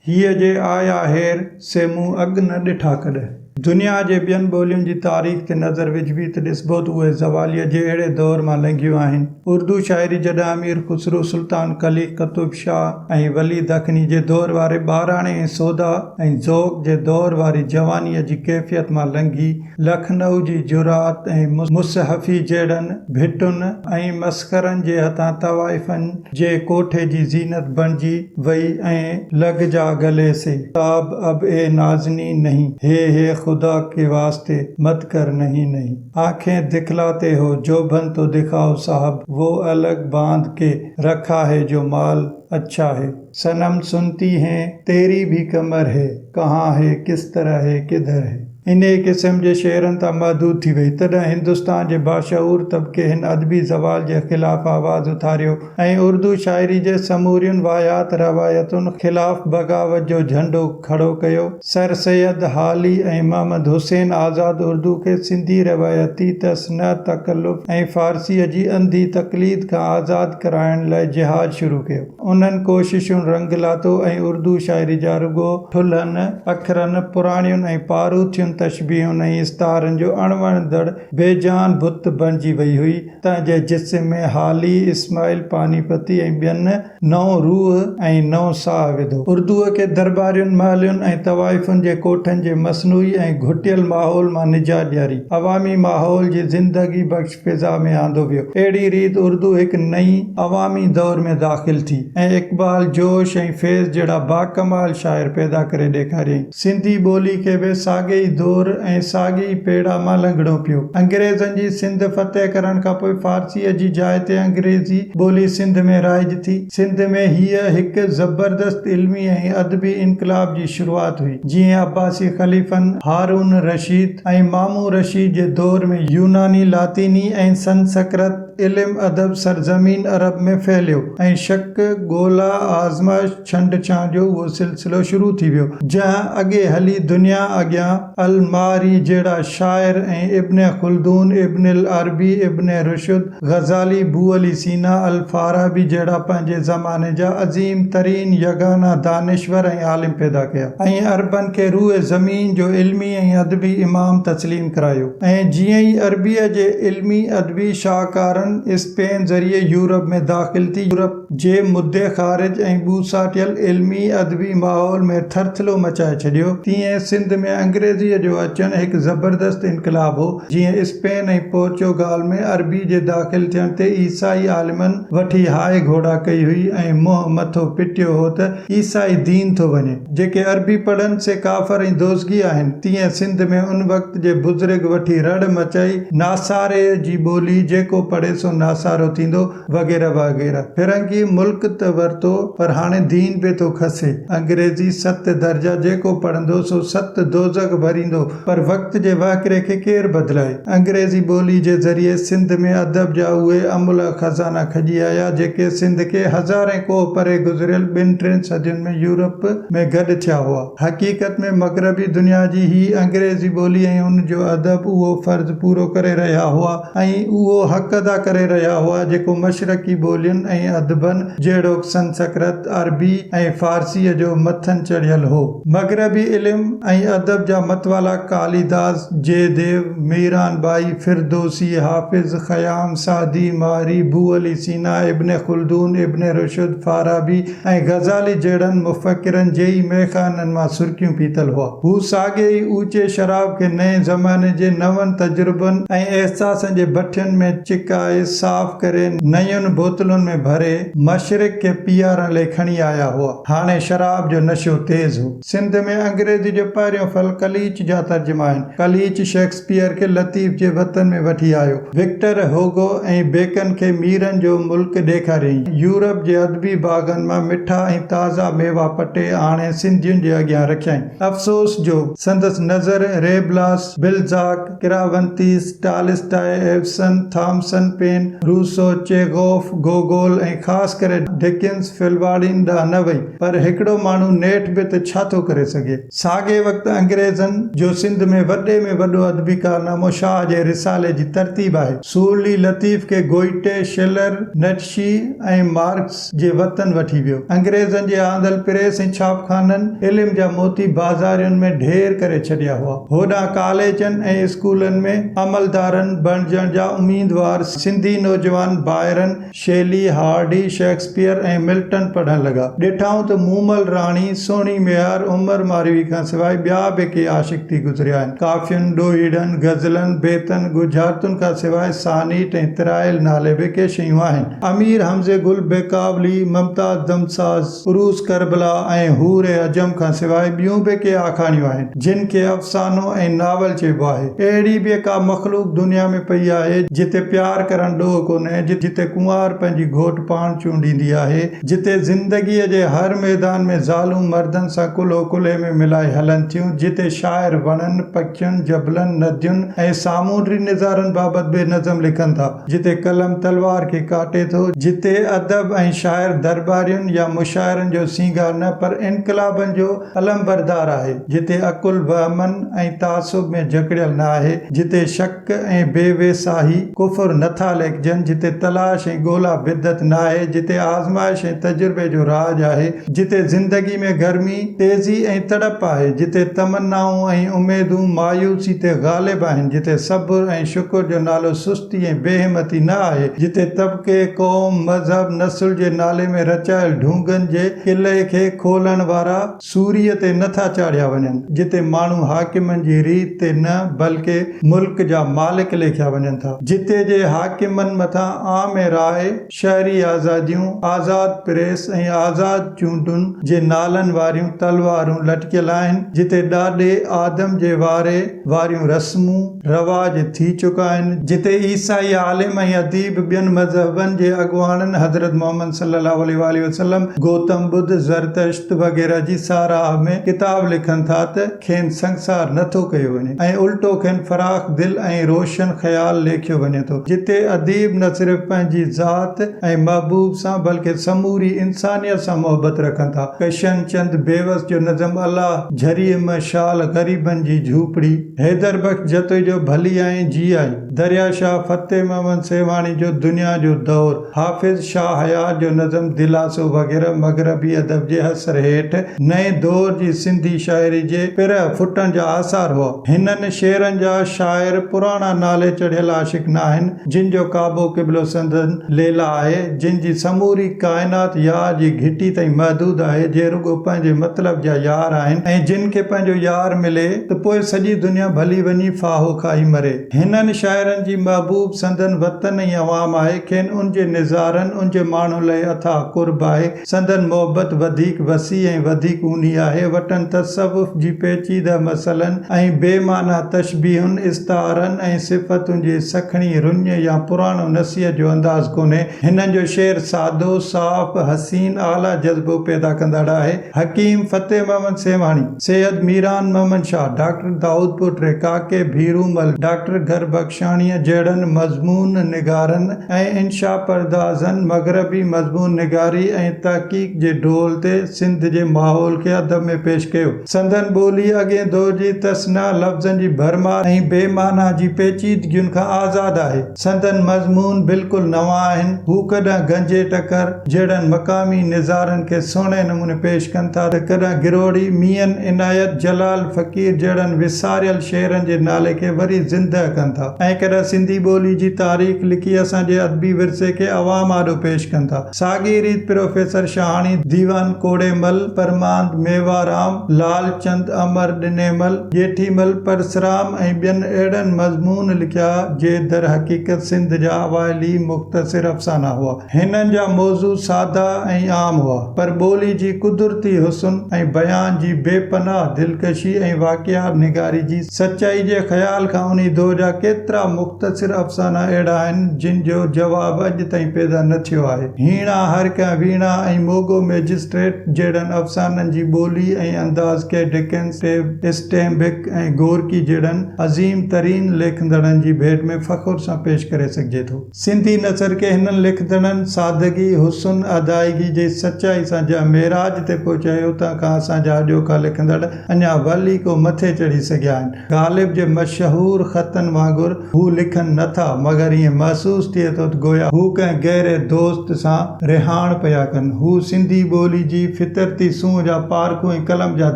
هيء جي آء آهر سي مون اڳ نه ڏٺا ڪڏهن. دنيا جي ٻين ٻولين جي تاريخ تي نظر وجهبي ته ڏسبو ته اهي زواليء جي اهڙي دؤر مان لنگهيون آهن. اردو شاعري جڏهن امير خسرو، سلطان قلي، قطب شاهه ۽ ولي دکني جي دؤر واري ٻاراڻي ۽ سودا ۽ ذوق جي دؤر واري جوانيء جي ڪيفيت مان لنگهي، لکنؤ جي جرات ۽ مصحفي جهڙن ڀٽن ۽ مسخرن جي هٿان طوائفن جي ڪوٺي جي زينت بڻجي وئي ۽ لڳ جا گلي سي تاب اب اي نازني نهين هي هي خدا ڪي واسطي مت ڪر نهين نهين آنکين دکلاتي هو جو بن تو دکائو صاحب وو الگ باند ڪي رکا هي جو مال اڇا هي. صنم سنتي هين تيري ڀي ڪمر هي ڪهان هي ڪس طرح هي ڪدهر هي. انهيء قسم جي شعرن تان محدود ٿي وئي، تڏهن هندستان جي باشعور طبقي هن ادبي زوال جي خلاف آواز اٿاريو ۽ اردو شاعري جي سمورين واهيات روايتن خلاف بغاوت جو جهنڊو کڙو ڪيو. سر سيد هالي ۽ محمد حسين آزاد اردو کي سنڌي روايتي تصنع، تڪلف ۽ فارسيء جي انڌي تقليد کان آزاد ڪرائڻ لاء جهاد شروع ڪيو. انهن ڪوششن رنگ لاتو ۽ اردو شاعري جا رڳو ٺلهن اکرن، پراڻين ۽ پاروٿين تشبيهن ۽ استعارن جو اڻ وڻندڙ بي جان بت بڻجي وئي هئي. تنهن جي جسم ۾ هالي، اسماعيل پاني پتي ۽ ٻين نئون روح ۽ نئون ساهه وڌو. اردوء کي درٻارين، محلين ۽ طوائفن جي ڪوٺن جي مصنوعي ۽ گهٽيل ماحول مان نجات ڏياري، عوامي ماحول جي زندگي بخش، فضا ۾ آندو ويو. اهڙي ريت اردو هڪ نئين عوامي دور ۾ داخل ٿي ۽ اقبال، جوش ۽ فيض جهڙا باڪمال شاعر پيدا ڪري ڏيکاريائين. سنڌي ٻولي کي به ساڳئي ئي دور ۽ ساڳئي ئي پيڙا مان لنگهڻو پيو. انگريزن جي سنڌ فتح ڪرڻ کانپوء فارسيء جي جاء تي انگريزي ٻولي سنڌ ۾ رائج ٿي. سنڌ ۾ هيء هڪ زبردست علمي ۽ ادبي انقلاب جي شروعات هئي، جيئن عباسي خليفن، هارون الرشيد ۽ مامون رشيد جي دور ۾ يوناني، لاطيني ۽ سنسڪرت علم ادب سرزمين عرب ۾ ڦهليو ۽ شڪ، ڳولا، آزمائش، ڇنڊڇانء جو اهو سلسلو شروع ٿي ويو، جنهن اڳي هلي دنيا اڳيان. الماري جهڙا شاعر ۽ ابن خلدون، ابن العربي، ابن رشد، غزالي، بو علي سينا، الفارابي جهڙا پنهنجي زماني جا عظيم ترين يگانه دانشور ۽ عالم پيدا ڪيا ۽ عربن کي روء زمين جو علمي ۽ ادبي امام تسليم ڪرايو ۽ جيئن ئي عربيء جي علمي ادبي شاهڪارن اسپين ذريعي يورپ ۾ داخل ٿي يورپ جي مدي خارج ۽ ٻوساٽيل علمي ادبي ماحول ۾ ٿرٿلو مچائي ڇڏيو تيئن سنڌ ۾ انگريزيء جو اچڻ هڪ زبردست انقلاب هو جيئن اسپين ۽ پورچوگال ۾ عربي جي داخل ٿيڻ تي عيسائي عالمن وٺي هاء گهوڙا ڪئي هئي ۽ منهن مٿو پٽيو هو ته عيسائي دين ٿو وڃي جيڪي عربي پڙهن سي ڪافر ۽ دوزخي آهن تيئن سنڌ ۾ ان وقت جي بزرگ وٺي رڙ مچائي ناساري جي ٻولي جيڪو پڙهي سو ناسارو ٿيندو وغيره وغيره فرنگي ملڪ ته ورتو پر هاڻي دين به ٿو کسي انگريزي ست درجا جيڪو پڙهندو سو ست دوزخ ڀريندو پر وقت جي واهڪري کي ڪير بدلائي انگريزي ٻولي جي ذريعي سنڌ ۾ ادب جا اهي املهه خزانا کڄي آيا جيڪي سنڌ کي هزارين ڪوهه پري گذريل ٻن ٽين صدين ۾ يورپ ۾ گڏ ٿيا هئا حقيقت ۾ مغربي دنيا جي هي انگريزي ٻولي ۽ ان جو ادب اهو فرض پورو ڪري رهيا هئا ۽ اهو حق ادا ڪري رهيا هئا جيڪو مشرقي ٻولين ۽ ادبن جهڙوڪ سنسڪرت، عربي ۽ فارسيء جو مٿن چڙهيل هو. مغربي علم ۽ ادب جا متوالا Kalidas, Jayadev, Meera Bai, Ferdowsi, Hafiz, Khayyam, Saadi, ماري، Bu Ali Sina, Ibn Khaldun, Ibn Rushd, Farabi, ۽ Ghazali جهڙن مفڪرن جي ئي مئخانن مان سرڪيون پيتل هئا. هو ساڳئي ئي اوچي شراب کي نئين زماني جي نون تجربن ۽ احساسن جي بٺين ۾ چڪائي صاف ڪري نيون بوتلن ۾ ڀري مشرق کي پيئارڻ لئي کڻي آيا هئا. هاڻي شراب جو نشو تيز هو. سنڌ ۾ انگريزي جو پهريون ڦل قليچ جا ترجما آهن. قليچ شيڪسپيئر کي لطيف جي وطن ۾ وٺي آيو. وڪٽر هوگو ۽ بيڪن کي ميرن جو ملڪ ڏيکاريائين. يورپ جي ادبي باغن مان مٺا ۽ تازا ميوا پٽي آڻي سنڌين جي اڳيان رکيائين. افسوس جو سندس نظر Rabelais, Balzac, Cervantes, Tolstoy, Ibsen, Thomas Paine, Rousseau, Chekhov, Gogol ۽ خاص ڪري ڊڪنس، فلواڙين ڏانهن نه وئي. پر هڪڙو ماڻهو نيٺ به ته ڇا ٿو ڪري سگهي؟ ساڳئي وقت انگريزن جو سنڌ ۾ وڏي ۾ وڏو ادبي ڪارنامو شاهه جي رسالي جي ترتيب آهي. سورلي لطيف کي گوئٽي، شلر، نٽشي ۽ مارڪس جي وطن وٺي ويو. انگريزن جي آندل پريس ۽ ڇاپخانن علم جا موتي بازارين ۾ ڍير ڪري ڇڏيا هئا. هوڏانهن ڪاليجن ۽ اسڪولن ۾ عملدارن بڻجڻ جا اميدوار سنڌي نوجوان Byron Shelley, Hardy, Shakespeare ۽ Milton پڙهڻ لڳا. ڏٺائون ته مومل راڻي، سهڻي ميهار، عمر ماروي کان سواء ٻيا به ڪي عاشق ٿي گذريا آهن. ڪافين، ڏوهيڙن، غزلن، بيتن، ڳجهارتن کان سواء سانيٽ ۽ ترائيل نالي به ڪي شيون آهن. امير حمزي گل، بيڪاولي، ممتاز دمساز، عروس ڪربلا ۽ حور عجم کان سواء ٻيون به ڪي آکاڻيون آهن، جن کي افسانو ۽ ناول چئبو آهي. اهڙي به ڪا مخلوق دنيا ۾ پئي آهي، جتي پيار ڪرڻ ڏوهه ڪونهي، جتي ڪنوار پنهنجي گهوٽ پاڻ چونڊيندي آهي، جتي زندگيء جي هر ميدان ۾ زالون مردن سان ڪلهو ڪلهي ۾ ملائي هلن ٿيون، جتي شاعر وڻن، پکين، جبلن، ندين ۽ سامونڊي نظارن بابت به نظم لکن ٿا. جتي قلم تلوار کي ڪاٽي ٿو، جتي ادب ۽ شاعر درٻارين يا مشاعرن جو سينگار نه پر انقلابن جو علمبردار آهي، جتي عقل وهمن ۽ تعصب ۾ جڪڙيل نه آهي، جتي شڪ ۽ بي ويساهي، ڪفر، نه ٿا ليکجن، جتي تلاش ۽ ڳولا بدعت نه آهي، جتي آزمائش ۽ تجربي جو راڄ آهي، جتي زندگي ۾ گرمي، تيزي ۽ تڙپ آهي، جتي تمنائون ۽ اميدون مايوسي تي غالب آهن، جتي صبر ۽ شڪر جو نالو سستي ۽ بي همتي نه آهي، جتي طبقي، قوم، مذهب، نسل جي نالي ۾ رچايل ڍونگن جي قلعي کي کولڻ وارا سوريء تي نه ٿا چاڙهيا وڃن، جتي ماڻهو حاڪمن جي ريت تي نه بلڪه ملڪ جا مالڪ ليکيا وڃن ٿا، جتي جي حاڪمن مٿان عام راء، شهري آزاديون، آزاد پريس ۽ آزاد چونڊن جي نالن واريون تلوارون لٽڪيل آهن، جتي ڏاڏي آدم جي واري واريون رسمون رواج ٿي چڪا آهن، جتي عيسائي عالم ۽ اديب، ٻين مذهبن جي اڳواڻن حضرت محمد صلي الله عليه واٰله وسلم، گوتم ٻڌ، زرتشت وغيره جي ساراهه ۾ ڪتاب لکن ٿا ته، کين سنگسار نه ٿو ڪيو وڃي ۽ الٽو کين فراخ دل ۽ روشن خيال ليکيو وڃي ٿو، جتي اديب نه صرف پنهنجي ذات ۽ محبوب سان بلڪه سموري انسانيت سان محبت رکن ٿا. ڪشن چند بيوس جو نظم الا جھريء م شال غريبن جي جھوپڙي، حيدر بخش جتوئي جو ڀلي آئين جي آئين، دريا شاهه فتح محمد سيوهاڻي جو دنيا جو دور، حافظ شاهه حيات جو نظم دلاسو وغيره مغربي ادب جي اثر هيٺ نئين دور جي سنڌي شاعري جي پرهه ڦٽڻ جا آثار هئا. هنن شعرن جا شاعر پراڻا نالي چڙهيل عاشق ناهن، جن جو ڪعبو قبلو سندن ليلا آهي، جن جي سموري ڪائنات يار جي گهٽي تائين محدود آهي، جي رڳو پنهنجي مطلب جا يار آهن ۽ جن کي پنهنجو يار ملي ته پوء سڄي دنيا ڀلي وڃي ڦاهو کائي مري. هنن شاعرن جي محبوب سندن وطن ۽ عوام آهي، کين ان جي نظارن، ان جي ماڻهن لئه اٿاهه قرب آهي، سندن محبت وڌيڪ وسيع ۽ وڌيڪ اونهي آهي، وٽن تصوف جي پيچيده مسئلن ۽ بي معنيٰ تشبيهن، استعارن ۽ صفتن جي سکڻي رڃ يا پراڻو نصيحت جو انداز ڪونهي، هنن جو شعر سادو، صاف، حسين، اعليٰ جذبو پيدا ڪندڙ آهي. حڪيم فتح محمد سيوهاڻي، سيد ميران محمد شاهه، ڊاڪٽر دائود پوٽري، ڪاڪي ڀيرو مل، ڊاڪٽر گهر بخشاڻيء جهڙن مضمون نگارن ۽ انشا پردازن مغربي مضمون نگاري ۽ تحقيق جي ڊول تي سنڌ جي ماحول کي ادب ۾ پيش ڪيو. سندن ٻولي اڳئين دور جي تصنع لفظن جي ڀرمار ۽ بي معنيٰ جي پيچيدگين کان آزاد آهي. سندن مضمون بلڪل نوان آهن. هو ڪڏهن گنجي ٽڪر جهڙن مقامي نظارن کي سهڻي نموني پيش ڪن ٿا ته ڪڏهن گروڙي ميين عنايت جلال فقير جهڙن وساريل شعرن جي نالي کي وري زندهه ڪن ٿا ۽ ڪڏهن سنڌي ٻولي جي تاريخ لکي اسان جي ادبي ورثي کي عوام آڏو پيش ڪن ٿا. ساڳي ريت پروفيسر شاهاڻي ديوان کوڙي مل، پرماند ميوارام، لعل چند امر ڏني مل، ڄيٺي مل پرسرام ۽ ٻين اهڙن مضمون لکيا جي درحقيقت سنڌ جا اوائلي مختصر افسانا هئا. هنن جا موضوع سادا ۽ عام هئا پر ٻولي جي قدرتي حسن ۽ بيان جي بي پناهه دلڪشي ۽ واقعا نگاري جي سچائي جي خيال کان انهي دور جا ڪيترا مختصر افسانا اهڙا آهن، جن جو جواب اڄ تائين پيدا نه ٿيو آهي. هيڻا، هرڪئين ويڻا ۽ موڳو مئجسٽريٽ جهڙن افسانن جي ٻولي ۽ انداز کي ڊڪنس، اسٽينبڪ ۽ گورڪي جهڙن عظيم ترين ليکندڙن جي ڀيٽ ۾ فخر سان پيش ڪري سگهجي ٿو. سنڌي نثر کي هنن لکندڙن سادگي، حسن، ادائگي جي سچائي سان جنهن معراج تي پهچايو، اتان کان اسان جا اڄوڪا لکندڙ اڃا ول ئي ڪو مٿي چڙهي سگهيا آهن. غالب جي مشهور خطن وانگر هو لکن نه ٿا، مگر ائين محسوس ٿئي ٿو ته گويا هو ڪنهن گهري دوست سان رهاڻ پيا ڪن. هو سنڌي ٻولي جي فطرتي سونهن جا پارکو ۽ قلم جا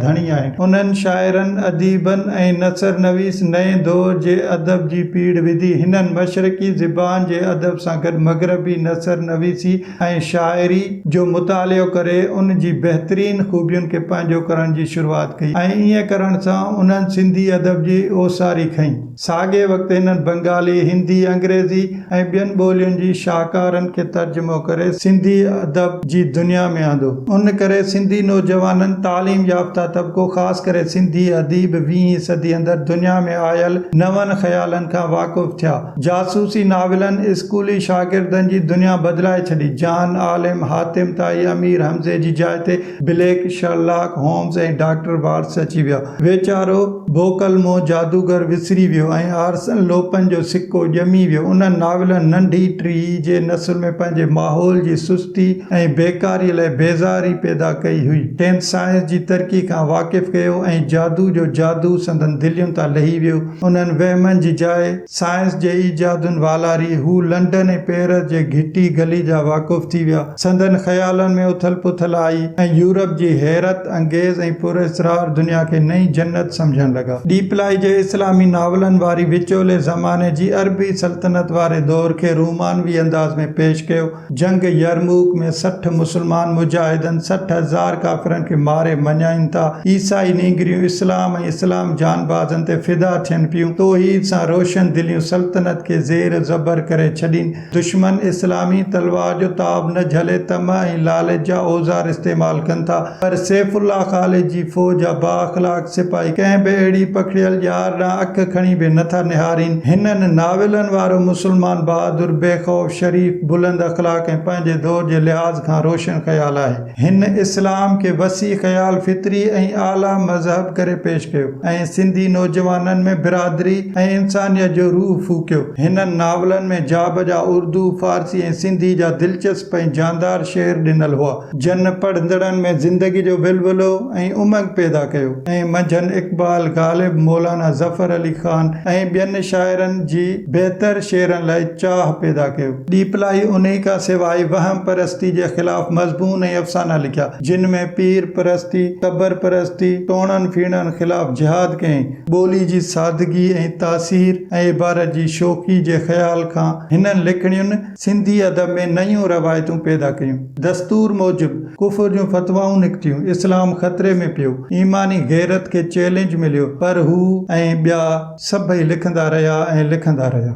ڌڻي آهن. انهن شاعرن، اديبن ۽ نثر نويس نئين دور جي ادب. جي پيڙهه وڌي. هنن مشرقي زبان جي ادب سان گڏ مغربي نثر نويسي ۽ شاعري جو مطالعو ڪري ان جي بهترين خوبين کي پنهنجو ڪرڻ جي شروعات ڪئي ۽ ائين ڪرڻ سان انهن سنڌي ادب جي اوساري کنئي. ساڳئي وقت هنن بنگالي، هندي، انگريزي. ۽ ٻين ٻولين جي شاهڪارن کي ترجمو ڪري سنڌي ادب جي دنيا ۾ آندو. ان ڪري سنڌي نوجوانن، تعليم يافته طبقو خاص ڪري سنڌي اديب ويهين صدي اندر دنيا ۾ آيل نون خيالن کان واقف ٿيا. جاسوسي ناولن اسڪولي شاگردن جي دنيا بدلائي ڇڏي. جان عالم، حاتم طائي، امير حمزي جي جاء تي بليڪ، شرلاڪ هومز ۽ ڊاڪٽر وارٽس اچي ويا. ويچارو بوڪلمو جادوگر وسري ويو ۽ آرسن لوپن جو سڪو ڄمي ويو. انهن ناولن ننڍي ٽي جي نسل ۾ پنهنجي ماحول جي سستي ۽ بيڪاري لاء بيزاري پيدا ڪئي هئي. کين سائنس جي ترقي کان واقف ڪيو ۽ جادو جو جادو سندن دلين تان لهي ويو. انهن وهمن جي جاء. سائنس جي ايجادن والاري هو لنڊن ۽ پئرس جي گهٽي گلي جا واقف ٿي ويا. سندن خيالن ۾ اٿل پٿل آئي ۽ يورپ جي حيرت انگيز ۽ پر اسرار دنيا کي نئين جنت سمجهڻ لڳا. ڏيپلائي جي اسلامي ناولن واري وچولي زماني جي عربي سلطنت واري دور کي رومانوي انداز ۾ پيش ڪيو. جنگ يرموڪ ۾ سٺ مسلمان مجاهدن سٺ هزار ڪافرن کي ماري مڃائين ٿا. عيسائي نينگريون اسلام ۽ اسلام جانبازن تي فدا ٿين پيون. توحيد سان روشن دليون سلطنت کي زير و زبر ڪري ڇڏين. دشمن اسلامي تلوار جو تاب نه جهلي طمع ۽ لالچ جا اوزار استعمال ڪن ٿا. پر سيف الله خالد جي فوج جا با اخلاق سپاهي ڪنهن به اهڙي پکڙيل ڄار ڏانهن اک کڻي به نه ٿا نهارين. هنن ناولن وارو مسلمان بهادر، بي خوف، شريف، بلند اخلاق ۽ پنهنجي دور جي لحاظ کان روشن خيال آهي. هن اسلام کي وسيع خيال، فطري ۽ اعليٰ مذهب ڪري پيش ڪيو ۽ سنڌي نوجوانن ۾ برادري ۽ انسانيت جو روح ڦوڪيو. هنن ناولن ۾ جابجا اردو، فارسي ۽ سنڌي جا دلچسپ ۽ جاندار شعر ڏنل هئا. جن پڙهندڙن ۾ زندگي جو ولولو ۽ امنگ پيدا ڪيو ۽ منجهن اقبال، غالب، مولانا ظفر علي خان ۽ ٻين شاعرن جي بهتر شعرن لاء چاهه پيدا ڪيو. ڏيپلائي انهي کان سواء وهم پرستي جي خلاف مضمون ۽ افسانا لکيا، جن ۾ پير پرستي، قبر پرستي، ٽوڻن ڦيڻن خلاف جهاد ڪيائين. ٻولي جي سادگي ۽ تاثير ۽ عبارت جي شوخي جي خيال کان هنن لکڻين سنڌي ادب ۾ نيون روايتون پيدا ڪيون. دستور موجب ڪفر جون فتوائون نڪتيون، اسلام خطري ۾ پيو، ايماني غيرت کي چئلينج مليو، پر هو ۽ ٻيا سڀئي لکندا رهيا ۽ لکندا رهيا.